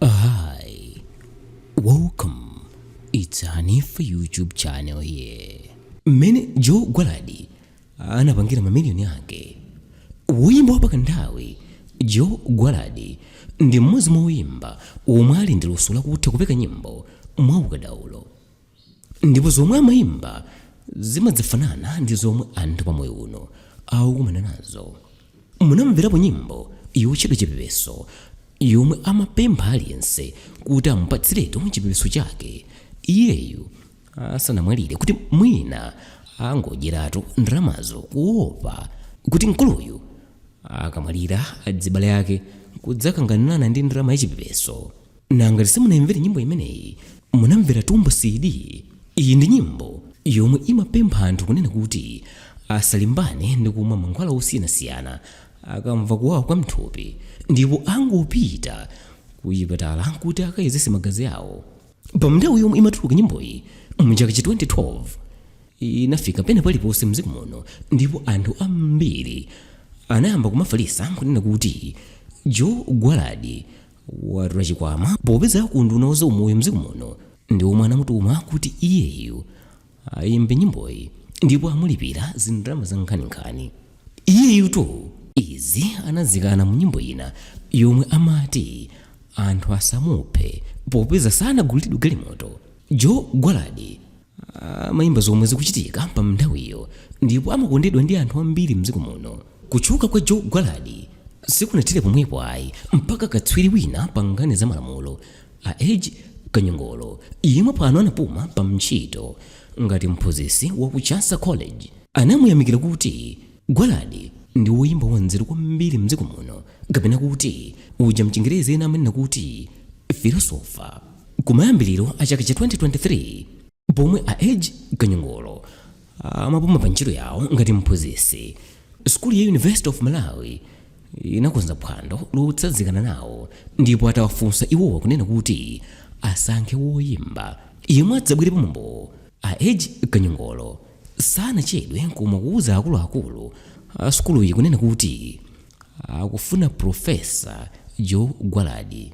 Hi, welcome. It's Info YouTube channel here. Mmene Joe Gwaladi anapangira mamiliyoni ake. Woyimba wa pakanthawi Joe Gwaladi ndi mmodzi mwa woyimba omwe ali ndi luso lakutha kupeka nyimbo mwaukadaulo. ndipo zomwe amaimba zimadzafanana ndi zomwe anthu pa moyo uno akukumana nazo munamverapo nyimbo yotchedwa chipepeso yomwe amapempha aliyense kuti amupatsiretu chipepeso chake iyeyu asanamwalire kuti mwina angodyeratu ndalamazo kuopa kuti mkuluyu akamwalira adzibale ake kudzakanganirana ndi ndalama yachipepeso na ngati simunayimvere nyimbo imeneyi munamvera Tumbocid iyi ndi nyimbo yomwe imapempha anthu kunena kuti asalimbane ndi kumwa mankhwala osiyanasiyana akamva kuwawa kwa mthupi ndipo angopita kuchipatala kuti akayezese magazi awo pa nthawi yomwe imatuluka nyimboyi mchaka cha 2012 inafika pena paliponse mdziko muno ndipo anthu ambiri anayamba kumafalisa kunena kuti joe gwaladi watola chikwama popeza a ku unduna wa zaumoyo mdziko muno ndi omwe anamutuma kuti iyeyu ayimbe nyimboyi ndipo amulipira zindalama za nkhaninkhani iyeyutu izi anazikana mu nyimbo ina yomwe amati anthu asamuphe popeza sanagulilidwe galimoto joe gwaladi amayimba zomwe zikuchitika pa nthawiyo ndipo amakondedwa ndi anthu ambiri mdziko muno kutchuka kwa joe gwaladi sikunathere pomwepo ayi mpaka katswiri wina pa nkhani za malamulo a edge kanyongolo yemwe pano anapuma pa ntchito ngati mphunzitsi wa ku chancellor college anamuyamikira kuti Gwaladi ndi woyimba wanzeru kwambiri mdziko muno kapena kuti uja mchingerezi ena amanena kuti Philosopher. Kumayambiliro a chaka cha 2023 pomwe a Edge Kanyongolo amapuma pa ntchito yawo ngati mphunzitsi, sukulu ya University of Malawi inakonza phwando lotsazikana nawo ndipo atawafunsa iwowa kunena kuti asankhe woyimba yemwe adzabwere pa mwambo, a Edge Kanyongolo Sanachedwe n'komwe kuuza akuluakulu a sukuluyi kunena kuti akufuna Professor Joe Gwaladi.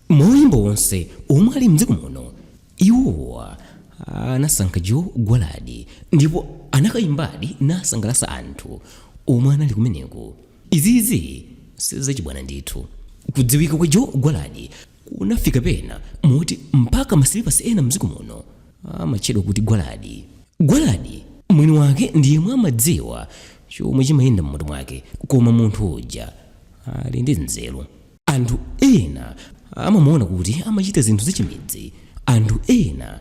Mwa oyimba onse omwe ali m'dziko muno, iwowa anasankha Joe Gwaladi ndipo anakayimbadi nasangalatsa anthu omwe anali kumeneko. Izizi sizachibwana ndithu. Kudziwika kwa Joe Gwaladi kunafika pena moti mpaka masilipasi ena mdziko muno amatchedwa kuti gwaladi gwaladi mwini wake ndi yemwe amadziwa chomwe chimayenda m'mutu mwake koma munthu uja ali ndi nzeru anthu ena amamuona kuti amachita zinthu zachimidzi anthu ena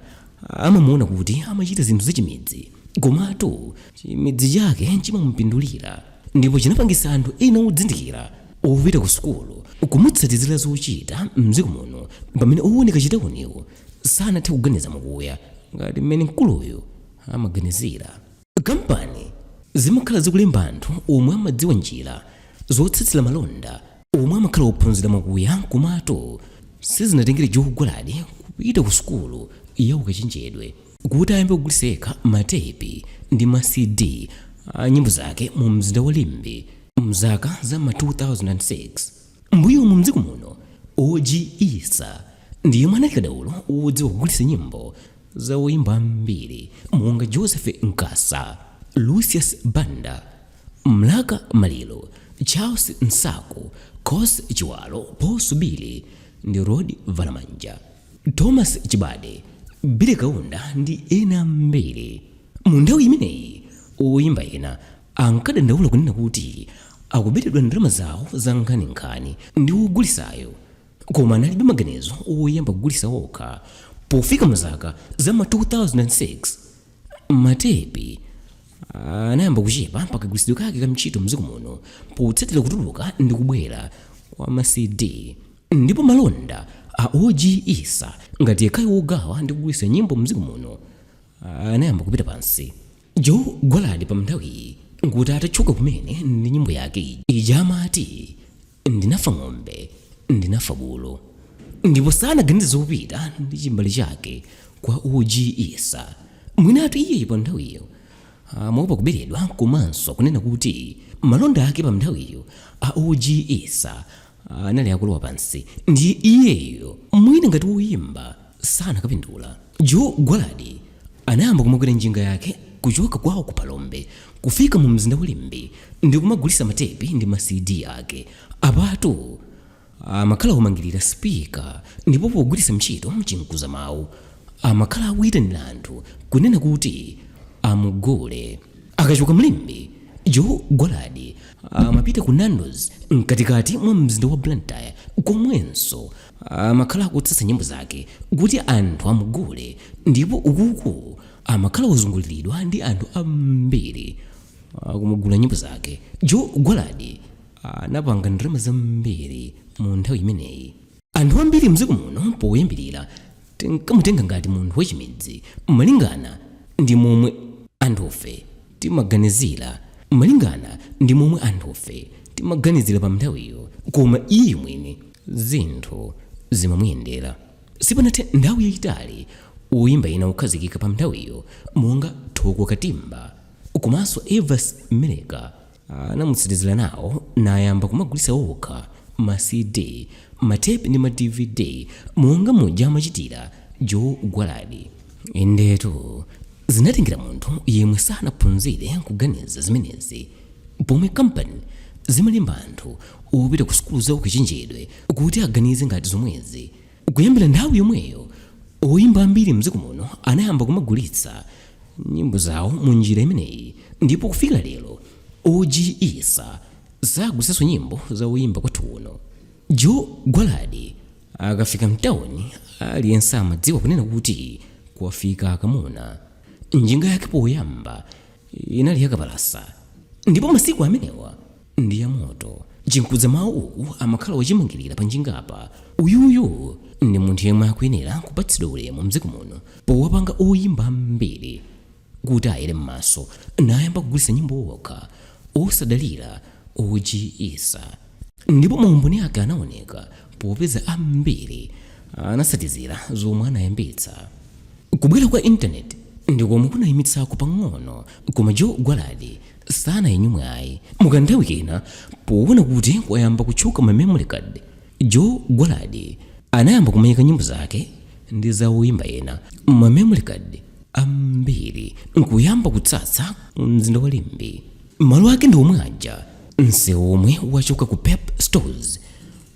amamuona kuti amachita zinthu zachimidzi komatu chimidzi chake chimamupindulira ndipo chinapangisa anthu ena odzindikira opita ku sukulu kumutsatizira zochita mdziko muno pamene owoneka chitauniwo sanathe kuganiza mokuya ngati mmene mkuluyu amaganizira kampani zimakhala zikulemba anthu omwe amadziwa njira zotsatsira malonda omwe amakhala ophunzira mokuya komatu sizinatengere joe gwaladi kupita ku sukulu ya ukachenjedwe kuti ayambe kugulitsa yekha ma tepi ndi ma CD a nyimbo zake mu mzinda wa Limbe mzaka za m'ma 2006. M'mbuyomu m'dziko muno, OG Issa ndi yemwe anali kadaulo wodziwa kugulitsa nyimbo za oyimba ambiri monga Joseph Nkasa, Lucius Banda, Mlaka Maliro, Charles Nsaku, Coss Chiwalo, Paul Subili ndi Rod Valamanja. Thomas Chibade, Billy Kaunda ndi ena ambiri. Mu nthawi imeneyi, oyimba ena ankadandaula kunena kuti akubetedwa ndalama zawo za nkhaninkhani ndi wogulisayo, koma analibe maganizo oyamba kugulitsa okha. Pofika mu zaka za ma 2006, ma tepi anayamba kuchepa pa kagwiritsidwe kake ka mchito mdziko muno potsatira kutuluka ndi kubwera kwa ma CD. Ndipo malonda a OG Issa ngati yekhayo wogawa ndi kugulitsa nyimbo mdziko muno anayamba kupita pansi. Joe Gwaladi pamnthawiyi nkuti atatchuka kumene ndi nyimbo yake ija amati Ndinafa ng'ombe ndinafa bulu ndipo sanaganize zopita ndi chimbale chake kwa OG Issa. Mwinatu iyeyu panthawiyo amaopa kuberedwa komanso kunena kuti malonda ake pamnthawiyo a OG Issa anali akulowa pansi ndiye iyeyo mwina ngati woyimba sanakapindula joe gwaladi anayamba kumakwera njinga yake kuchoka kwawo ku phalombe kufika mu mzinda wa limbe ndi kumagulitsa matepi ndi ma cd ake apatu amakhala omangirira spika ndipo pogwiritsa ntchito chinkuza mawu amakhala akuyitanira anthu kunena kuti amugule akachoka mlimbe joe gwaladi amapita ku nandos mkatikati mwa mzinda wa blantyre komwenso amakhala akutsatsa nyimbo zake kuti anthu amugule ndipo ukuku amakhala ozunguliridwa ndi anthu ambiri kumugula nyimbo zake joe gwaladi anapanga ndalama zambiri mu nthawi imeneyi anthu ambiri mdziko muno poyambirira tinkamutenga ngati munthu wachimidzi malingana ndi momwe anthufe timaganizira malingana ndi momwe anthufe timaganizira pa nthawiyo koma iye mwini zinthu zimamuyendera sipanathe nthawi yayitali oyimba ena okhazikika pa nthawiyo monga thoko katimba komanso evance meleka Anamutsatizira nawo nayamba kumagulitsa okha ma CD, matepi ndi ma dvd monga muja amachitira Joe Gwaladi. Indetu, zinatengera munthu yemwe sanaphunzire kuganiza zimenezi. Pomwe kampani zimalemba anthu opita ku sukulu za ukachenjedwe kuti aganize ngati zomwezi, Kuyambira nthawi yomweyo, oyimba ambiri m'dziko muno anayamba kumagulitsa nyimbo zawo mu njira imeneyi ndipo kufika lero OG Issa sagulitsanso nyimbo za oyimba kwathu kuno. Joe Gwaladi akafika mtauni aliyense amadziwa kunena kuti kwafika kamuna. Njinga yake poyamba inali yakapalasa ndipo masiku amenewa ndi ya moto chimkuza mawu amakhala wachimangirira pa njingapa uyuyu ndi munthu yemwe akuyenera kupatsidwa ulemu mdziko muno powapanga oyimba ambiri kuti ayere m'maso nayamba kugulitsa nyimbo okha osadalira og issa Ndipo maumboni ake anaoneka, popeza ambiri anatsatizira zomwe anayambitsa. Kubwera kwa internet ndi komwe kunayimitsako pang'ono, koma Joe Gwaladi sanayinyumwe ayi. Mu kanthawi kena, poona kuti kwayamba kutchuka ma memory card, Joe Gwaladi anayamba kumayika nyimbo zake ndi za oyimba ena muma memory card ambiri nkuyamba kutsatsa mu mzinda wa Limbe. Malo ake ndi omwe aja. Msewu omwe wachoka ku Pep Stores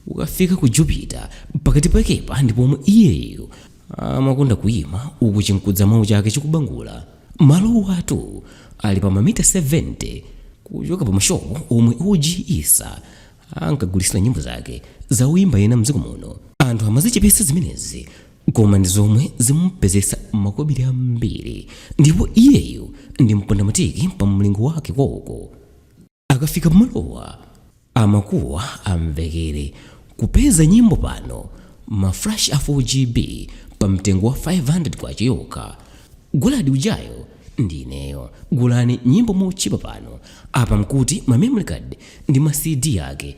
ukafika ku Jupiter pakati pakepa ndi pomwe iyeyo amakonda kuyima uku chimkuza mawu chake chikubangula. Malowatu ali pa mamita 70 kuchoka pa mashopu omwe OG Issa ankagulitsira nyimbo zake za oyimba ena mdziko muno. Anthu amazichepetsa zimenezi koma ndi zomwe zimupezetsa makobiri ambiri ndipo iyeyo ndi mpondamatiki pa mlingo wake koko. akafika pamalowa amakuwa amvekere kupeza nyimbo pano ma flash a 4gb pa mtengo wa 500 kwacha yokha gwaladi ujayo ndi ineyo gulani nyimbo motchipa pano apa mkuti ma memory card ndi ma cd ake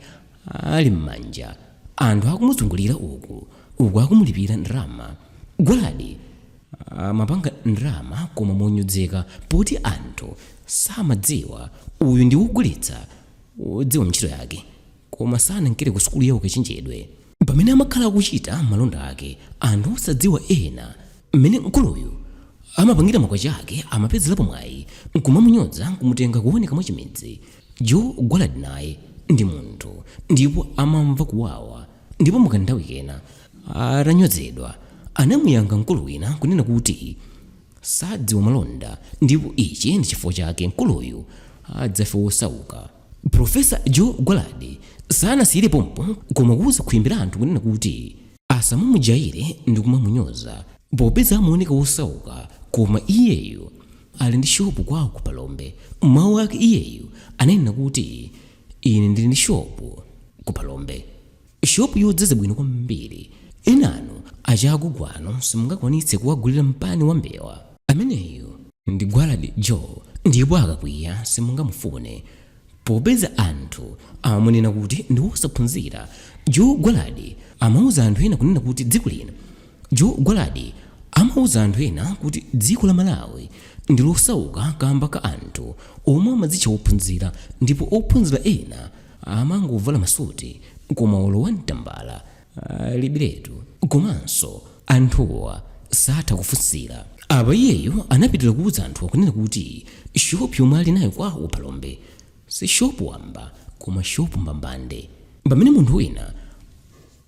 ali m'manja anthu akumuzungulira uku uku akumulipira ndalama gwaladi Amapanga ndalama koma monyozeka poti anthu samadziwa uyu ndi wogulitsa wodziwa ntchito yake koma sanankere ku sukulu ya ukachenjedwe. Pamene amakhala akuchita malonda ake anthu osadziwa ena mmene mkuluyu amapangira makwacha ake amapezelapo mwayi nkumamunyoza nkumutenga kuoneka mwachimidzi. Joe Gwaladi naye ndi munthu ndipo amamva kuwawa. ndipo mukanthawi kena atanyozedwa anamuyankha mkulu wina kunena kuti sadziwa malonda ndipo ichi ndi chifukwa chake mkuluyu adzafe wosauka profesa joe gwaladi sanasiyire pompo koma kuuza khwimbi la anthu kunena kuti asamamujayire ndi kumamunyoza popeza amaoneka wosauka koma iyeyo ali ndi shopu kwawo ku phalombe mawu ake iyeyo ananena kuti Ine ndili ndi shopu ku Phalombe, shopu yodzaza bwino kwambiri. Enanu achakugwanu simungakwanitse kuwagulira mpani wa mbewa. Ameneyo ndi Gwaladi Joe ndipo akakwiya simungamufune. Popeza anthu amamunena kuti ndi wosaphunzira, Joe Gwaladi amauza anthu ena kunena kuti dziko lino Joe Gwaladi amauza anthu ena kuti dziko la Malawi ndi losauka kaamba ka anthu omwe amadzitcha ophunzira ndipo ophunzira ena amangovala masuti koma olo wan tambala alibiretu komanso anthuwa satha kufunsira. Apa iyeyo anapitira kuuza anthuwa kunena kuti shopu yomwe ali nayo kwawo ku Phalombe si shopu wamba koma shopu mbambande pamene munthu wina,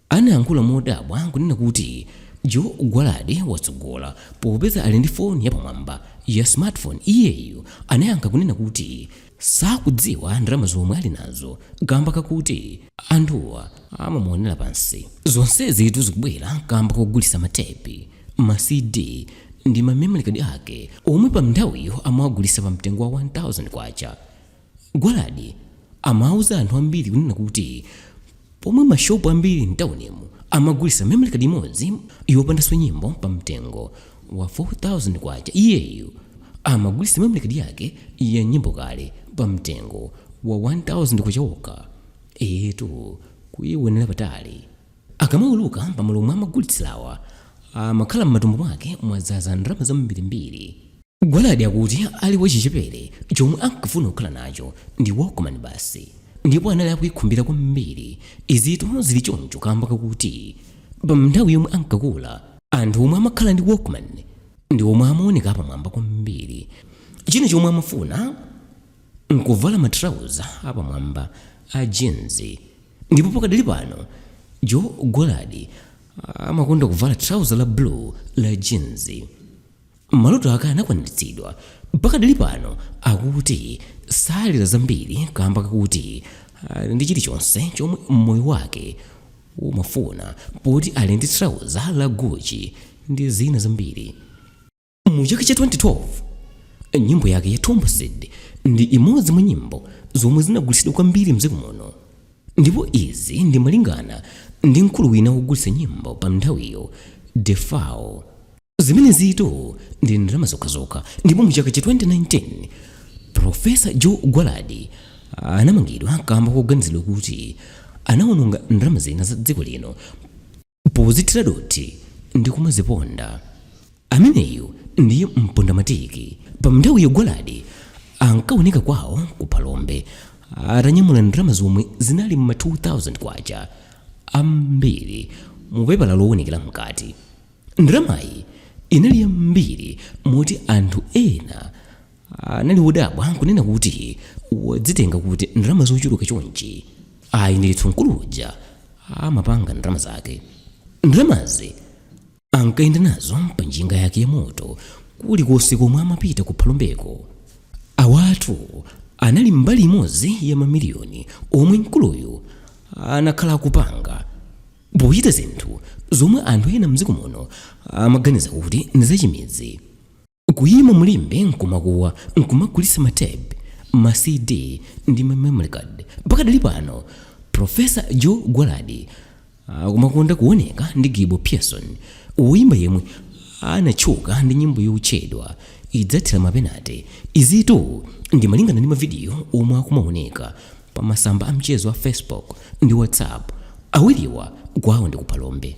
Anayankhula modabwa n'kunena kuti, Joe Gwaladi watsogola. Popeza ali ndi foni yapamwamba ya smartphone, iyeyo anayankha kunena kuti sakudziwa ndalama zomwe ali nazo kaamba kakuti anthuwa amamuonera pansi. Zonsezitu zikubwera kaamba kogulitsa ma tepi, ma CD ndi ma memory card ake omwe panthawiyo amawagulitsa pa mtengo wa K1000. Gwaladi amauza anthu ambiri kunena kuti pomwe ma shopu ambiri mtaunimu amagulitsa memory card imodzi yopandanso nyimbo pa mtengo wa K4000 iyeyo amagulitsa memory card yake ya nyimbo kale pa mtengo wa K1000 okha. Eetu kuionela patali. Akamauluka pamalo omwe amagulitsilawa amakhala mmatumba mwake mwadzaza ndalama zambirimbiri. Gwaladi akuti ali wachichepere chomwe ankafuna kukhala nacho ndi Walkman basi ndipo anali akuikhumbira kwambiri. Izitu zili choncho kamba kakuti pa nthawi yomwe ankakula, anthu omwe amakhala ndi Walkman ndi omwe amaoneka apamwamba kwambiri. China chomwe amafuna n'kuvala matrauza apamwamba a jeans ndipo pakadali pano Joe Gwaladi amakonda kuvala trauza la blue la jeans. Maloto ake anakwaniritsidwa. Pakadali pano akuti salira zambiri kamba kakuti ali ndi chilichonse chomwe moyo wake umafuna poti ali ndi trauza la Gucci ndi zina zambiri. Mu chaka cha 2012, nyimbo yake ya Tumbocid ndi imodzi mwa nyimbo zomwe zinagulitsidwa kwambiri mdziko muno ndipo izi ndi malingana ndi mkulu wina wogulitsa nyimbo pa mnthawiyo, Defao. zimenezitu ndi ndalama zokhazokha ndipo mu chaka cha 2019 profesa joe gwaladi anamangidwa kamba koganizidwa kuti anawononga ndalama zina za dziko lino pozithira dothi ndi kumaziponda ameneyu ndiye mpondamatiki pa mnthawi yo gwaladi ankaoneka kwawo ku phalombe atanyamula ndalama zomwe zinali mma 2000 kwacha ambiri mu pepala loonekera mkati ndalamayi inali yambiri moti anthu ena anali wodabwa kunena kuti wazitenga kuti ndalama zochuluka chonchi ayi ndithu mkulu uja amapanga ndalama zake ndalamazi ankayenda nazo pa njinga yake ya moto kulikonse komwe amapita ku phalombeko awatu anali mbali imodzi ya mamiliyoni omwe mkuluyu anakhala akupanga pochita zinthu zomwe anthu ena mdziko muno amaganiza kuti ndi zachimidzi kuyima mulimbe nkumakuwa nkumagulitsa ma tape ma cd ndi ma memory card pakadali pano profesa joe gwaladi akumakonda kuoneka ndi gibo pearson woyimba yemwe anatchuka ndi nyimbo yotchedwa izathera mapenate izitu ndi malingana ndi mavidiyo omwe akumaoneka pamasamba a mchezo a Facebook ndi WhatsApp. Awiriwa kwawo ndi ku Phalombe.